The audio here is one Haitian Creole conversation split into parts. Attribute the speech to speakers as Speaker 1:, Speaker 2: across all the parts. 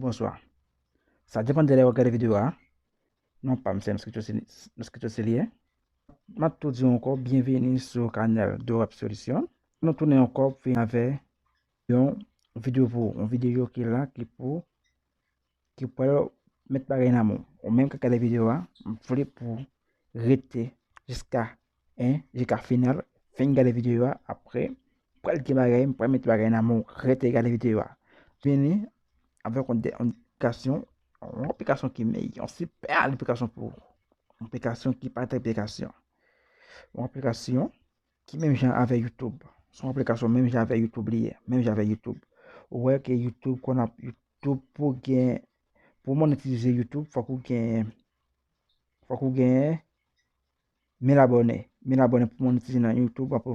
Speaker 1: Bonswa. Sa depan de lè wap gade video a. Non pam se Moscato Celie. Map tou diw ankò byenveni sou kanal Dorap Solution. Nou tounen ankò pou vin avè yon video pou ou. Yon video ki la ki pou ki pral met bagay nan men w. Ou menm kap gade video a, m vle pou rete jiska Hein jiska final fin gade video a après pral gen bagay m pral met bagay nan menw rete gade video a vini avèk yon aplikasyon yon aplikasyon ki meyè yon super aplikasyon pou ou yon aplikasyon ki pa trete aplikasyon yon aplikasyon ki menm jan avè youtube se yon aplikasyon menm jan avè youtube li ye menm jan avè youtube ou wè ke youtube konn ap youtube pou gen pou monetize youtube fòk ou gen fòk ou gen 1000 abòne 1000 abòne pou monetize nan youtube wap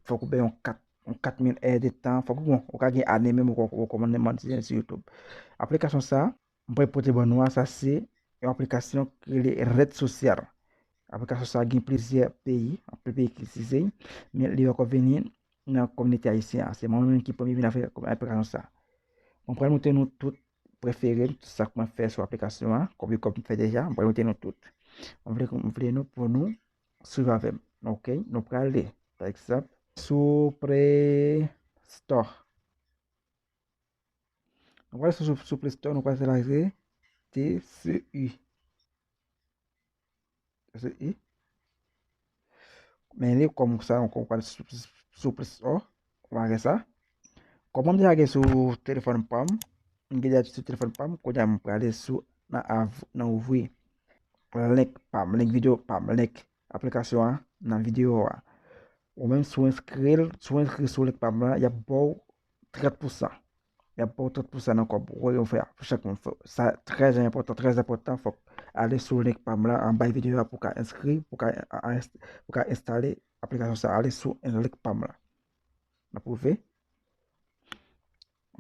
Speaker 1: fòk ou bay yon 4 yon 4000 è de tan fòk ou bon ou ka gen ane menm ou kòman nan monetize sou youtube aplikasyon sa mwen pral pote ban nou a sa se yon aplikasyon ki rele red social aplikasyon sa gen plizyè peyi anpe peyi ki itilize men li poko vini nan kominote ayisyen an se mwen menm ki premye vin avèk aplikasyon sa mwen pral montre nou tout prefere m, sa k mwen fè sou aplikasyon an, kopye kòb m fè deja, m pral mete nou tout. M vle m vle nou pou nou swiv avè m. Ok, nou prale pa egzanp sou Play Store. Nou pral sou sou Play Store, nou pral selekte TCU. i. Men li kòm sa yon kòm pral sou plis o. Ou pa wè sa. Kòm mwen deja gen sou telefòn pa m. Mwen gen deja sou telefòn pa m. Kounye a mwen prale sou nan ouvri. Link pa m. Link video pa m. Link aplikasyon an nan video a. Ou menm sou enskri l. Sou enskri sou link pa m lan. Yap baw 30 pousan. Yap baw tout pou sa nan kob woy ou fè a pou chak moun fè sa trè enpòtan trè enpòtan fòk ale sou link pam la anbay video a pou ka enskri pou ka pou ka enstale aplikasyon sa ale sou link pam la nan pwouve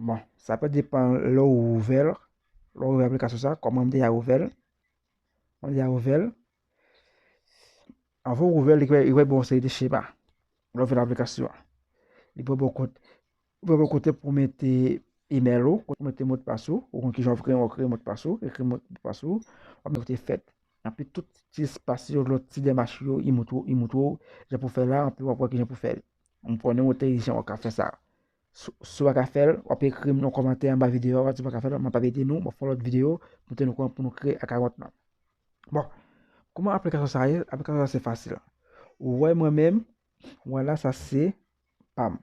Speaker 1: bon sa pa depan lè ou ouvè lè ou ouvè aplikasyon sa kòman mde a ouvè mde a ouvè avan ou ouvè li wè bon se de chema lè ou vè nan aplikasyon li pou bon kote Ou pral wè kote pou mete email ou, kote pou mete modpas ou, ou konn kijan wap kreye modpas ou, ekri modpas ou, wap mete kote fèt. Anpi tout ti espas yo, lòt ti demach yo, li montre ou jan pou fè la, anpi wap wè kijan pou fèl. M konnen ou entelijan ou ka fè sa. Si w pa ka fè l, wap ekri m nan kòmantè anba videyo a, si w pa ka fè l, map ede nou, map fè yon lòt videyo pou tèt nou konn pou nou kreye akawont lan. Bon, kouman aplikasyon sa ye? Aplikasyon sa se fasil. Ou wè mwen menm, wè la sa se pam.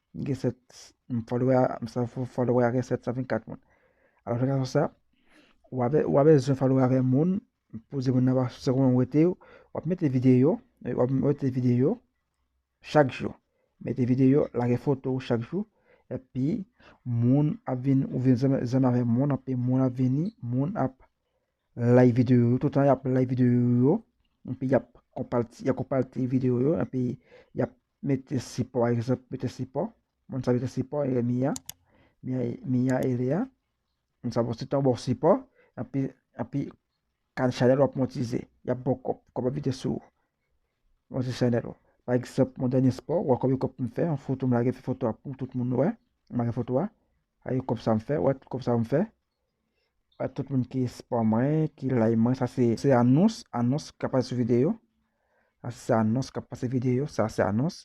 Speaker 1: M gen 7, m followè a, m sa followè a gen 724 moun. Alò fè gason sa, ou avè, ou avè zwen followè avè moun, poze moun nan pa se kouman ou rete yo, wap mete videyo, wap mete videyo chak jou. Mete videyo, lage foto ou chak jou, epi moun ap vin, ou vin zanmi, zanmi avè moun, epi moun ap vini, moun ap like videyo yo, toutan yap like videyo yo, epi yap konpati, yap konpati videyo yo, epi yap Mete sipò egzanp mete sipò moun sa mete sipò e miya miya e leya moun sa bon se tan bon sipò api api kan chanèl wap montize yap bon kòb kòb ap vide sou ou monte chanèl ou pa egzanp mwen dènye spò wè konbyen kòb m fè yon foto m lage foto a pou tout moun wè m lage foto a a gen kòb sa m fè wè kòb sa m fè Tout moun ki spò mwen, ki lay mwen, sa se anons, anons k ap pase sou videyo. Sa se anons k ap pase videyo, sa se anons.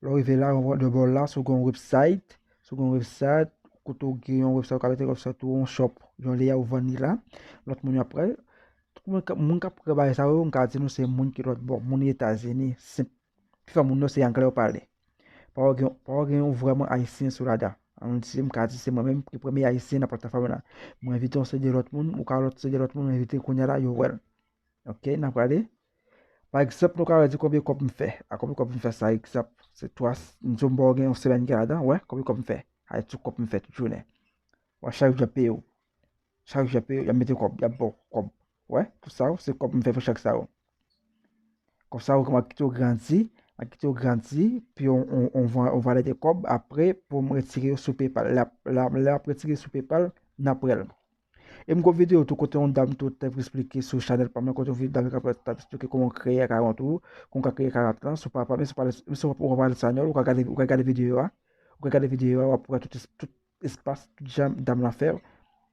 Speaker 1: Lè w rive la, de bò la, sou gen yon website, sou gen yon website, kote w gen yon website, w ka mete website ou, yon shop, yon lè a ou vann li la, lòt moun yo ap pran l. Tout moun k ap pran bagay sa yo, m ka di nou se moun ki lòt bò, moun Etazini, Pi fò moun yo se anglè yo pale. Pa wè gen, pa wè gen yon vrèman ayisyen sou rada. An si m ka di se mwen menm ki premye ayisyen nan platafòm nan. Mwen envite yon seri de lòt moun, ou ka lòt seri de lòt moun mwen envite kounya la yo wèl. Ok, n ap prale. Pa egzanp nou ka wè di konbyen kòb m fè. A konbyen kòb m fè sa egzanp. Se 3, m di w m ba w gen yon semèn gen ladan, wè konbyen kòb m fè. Ay tou kòb m fè tout jounen. Wè chak jou ap peye w. Chak jou yap yap mete kòb, yap baw kòb. Wè, tout sa yo se kòb m fè pou chak sa yo. Kòb sa yo kòman kite yo grandi, map kite yo grandi, pi on on on van on valè de kòb aprè pou m retire yo sou PayPal. Lap la lè map retire sou PayPal, nan pran l. E m gen yon videyo tou kote yon dam tou tap esplike sou chanèl pa m nan kote yon dam tap tap esplike kòman kreye akawont ou, kòman w ka kreye akawont lan sou PayPal, menm si w pa menm si w pa pale espanyòl ou ka gade ou ka gade videyo a, ou ka gade videyo a wap wè tout tout espas djam dam lan fè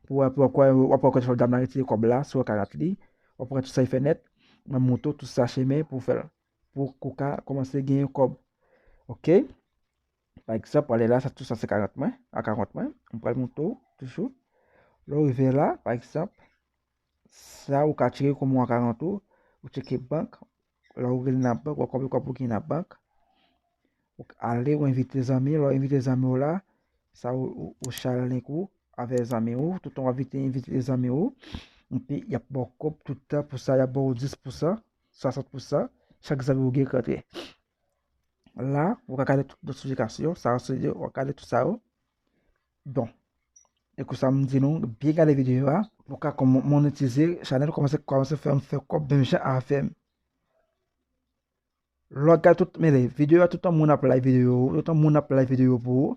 Speaker 1: pou wè pou wè wap wè kòman dam lan retire kòb la sou akarat li wap wè tout sa li fè nèt nan moto tout sa chemen pou fèl pou ou ka kòmanse genyen kòb ok pa egzanp wale la sa tout sa se karat mwen a karant mwen m pral moto toujou lè ou rive la pa egzanp sa ou ka tire kòm ou a karant ou ou tcheke bank Lè ou rele nan bank, ou konprann kòb ou gen nan bank. Ou ale, ou envite zanmi, lè ou envite zanmi ou la, sa ou share link ou avè zanmi ou, toutan wap vite envite zanmi ou, epi yap baw kòb toutan pou sa, yap baw 10 pou san, 60 pou san, chak zanmi ou gen k antre. La, ou ka gade tout notification, sa ou se yo, ou gade tout sa yo. don. E kou sa m di nou, byen gade videyo a. Nou ka kon monetize chanel komanse komanse fè m fè kòb menm jan avè m. Lò gade tout men le videyo a toutan moun ap like videyo ou, toutan moun ap like videyo pou ou,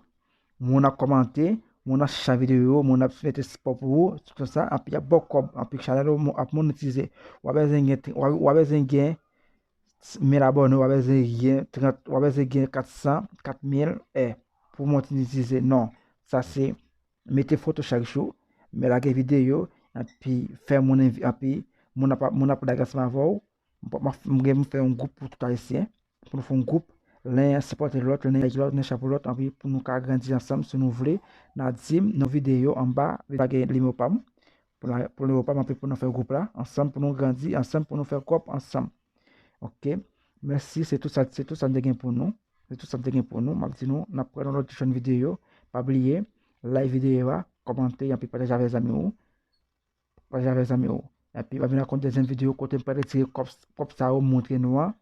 Speaker 1: moun ap kòmante, moun ap share videyo ou, moun ap mete sipò pou ou, tout kon sa, anpi y ap ba w kòb, anpi chanèl ou ap monetize. Ou pa bezwen gen, ou pa bezwen gen mil abòne ou pa bezwen gen 30 ou pa bezwen gen 400 4000 è pou monetize non sa se mete foto chak jou me lage video epi fè moun epi moun ap moun ap lage ansanm avèw m gen pou fè yon gwoup pou tout ayisyen pou nou fè yon gwoup len sipòte lòt len ede lòt len chape lòt anpi pou nou ka grandi ansanm si nou vle nan dim nan video anba lage nimewo pam Pou nou pa manpe pou nou fè group la ansanm pou nou grandi ansanm pou nou fè kòb ansanm ok mèsi se tout sa se tout sa m te gen pou nou se tout sa m te gen pou nou m ap di nou n ap pran yon lòt jòn videyo pa bliye like videyo a kòmante anpi pataje avèk zanmi ou pataje avèk zanmi ou anpi m ap vin ak yon dezyèm videyo kote m pral retire kòb kòb sa yo m montre nou an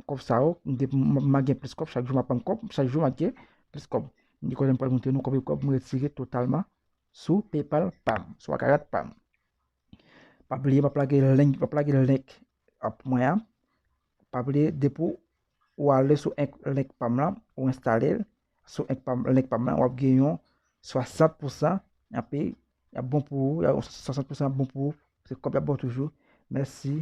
Speaker 1: kòb sa yo m gen m ap gen plis kòb chak jou m ap pran kòb chak jou m ap gen plis kòb m gen kote m pral montre nou konbyen kòb m retire totalman sou paypal pam sou akarat pam pa bliye map lage link map lage link ap mwen an pa bliye depi ou ale sou link pam lan ou enstale sou link pam lan wap gen yon 60 pousan api yap bon pou ou 60 pousan bon pou ou se kòb yap baw toujou mèsi